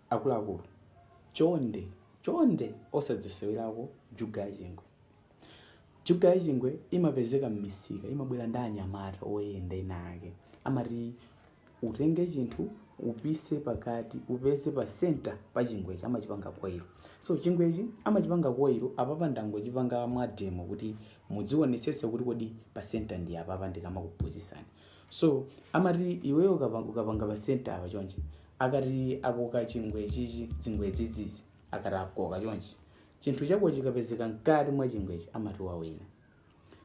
akuluakulu chonde osadzisewelako juga ya chingwe juga ya chingwe imapezeka m'misika imabwera ndi anyamata oyenda ena ake amati utenge chinthu upise pakati upeze pa center pa chingwechi amachipanga koilo so chingwechi amachipanga koilo apapa ndangochipanga mwademo kuti mudzionetsetse kuti kodi pa center ndi apapa ndikamakuphunzitsani so amati iweyo ukapa- ukapanga pa center apa chonchi akati akoka chingwe chichi zingwe zizizi akati akoka chonchi chinthu chako chikapezeka mkati mwa chingwechi amati wawina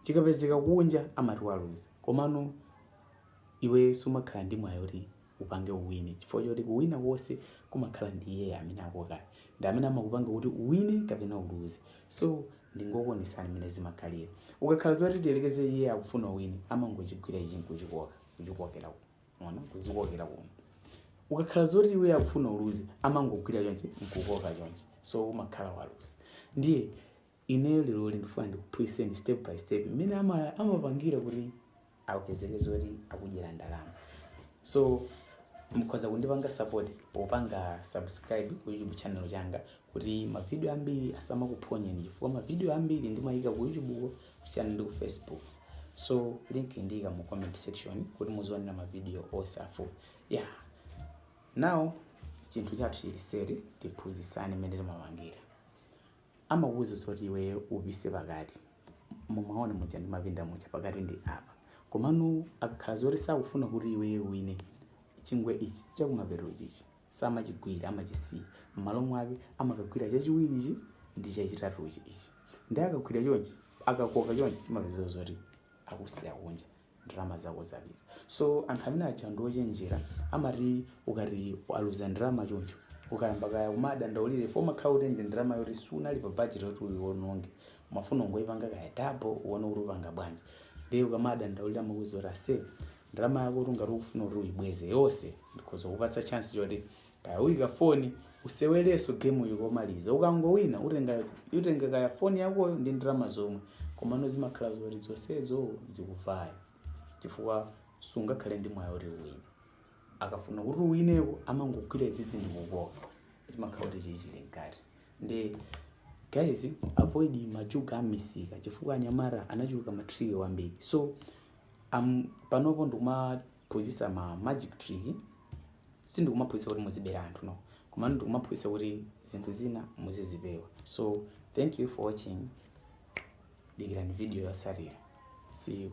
chikapezeka kunja amati waluza komano iwe sumakhala ndi mwayi kuti upange uwine chifukwa choti kuwina konse kumakhala ndi iyeyo amene akokayo ndi amene amakupanga kuti uwine kapena uluze so ndingokuonesani mmene zimakhalira ukakhala zoti tiyerekeze iye akufuna uwine amangochigwira ichi nkuchikoka kuchikokera ku- ona kudzikokera kuno ukakhala zoti iwe akufuna uluze amangogwira chonchi nkukoka chonchi so umakhala waluza ndiye Ineyo leroli ndifuna ndikuphunzitseni step by step mmene amapangira kuti apezeke zoti akudyera ndalama. So mukhoza kundipanga support popanga subscribe ku YouTube channel changa kuti mavidiyo ambiri asamakuphonyeni chifukwa mavidiyo ambiri ndimayika ku YouTube ko kusiyana ndi ku Facebook. So link ndiyika mu comment section kuti muzionera mavidiyo onse a full. Yeah. Now chinthu chathu chili seri tiphunzitsane mmene timapangira. amakuuza zoti iweyo upise pakati mumaona muja ndimapinda muja pakati ndi apa komano akakhala zoti sakufuna kuti iweyo uwine chingwe ichi chakumapeto chichi samachigwira amachisiya m'malo mwake amakagwira chachiwiri ichi ndi chachitatu ichi ichi nde akagwira chonchi akakoka chonchi chimapezeka zoti akusiya kunja ndalama zako zapita so anthu amene aja ndi ochenjera amati ukati waluza ndalama choncho ukayamba kaya kumadandaulira for umakhala kuti ndi ndalama yoti sunali pa budget yoti uyiwononge umafuna ungoyipanga kaya double uone kuti upanga bwanji ndiye ukamadandaulira amakuuza kuti aise ndalama yako kuti ngati ukufuna kuti uyibweze yonse ndikhoza kupatsa chance choti kaya uyika foni usewerenso gemu yokomaliza ukangowina utenga kaya foni yakoyo ndi ndalama zomwe komano zimakhala zoti zonsezo zikuvaya chifukwa sungakhale ndi mwayi oti uwine akafuna kuti uwineko amangogwira izizi ndi kukoka chimakhala kuti chichili mkati nde guys avoid majuga amisika chifukwa anyamata anachuluka matriki wambiri so panopo ndikuma phuzisa ma magic trick sindikumaphuzisa kuti muzibera anthu no komano ndikumaphuzisa kuti zinthu zina muzizipewa so thank you for watching dikirani video yosatira see you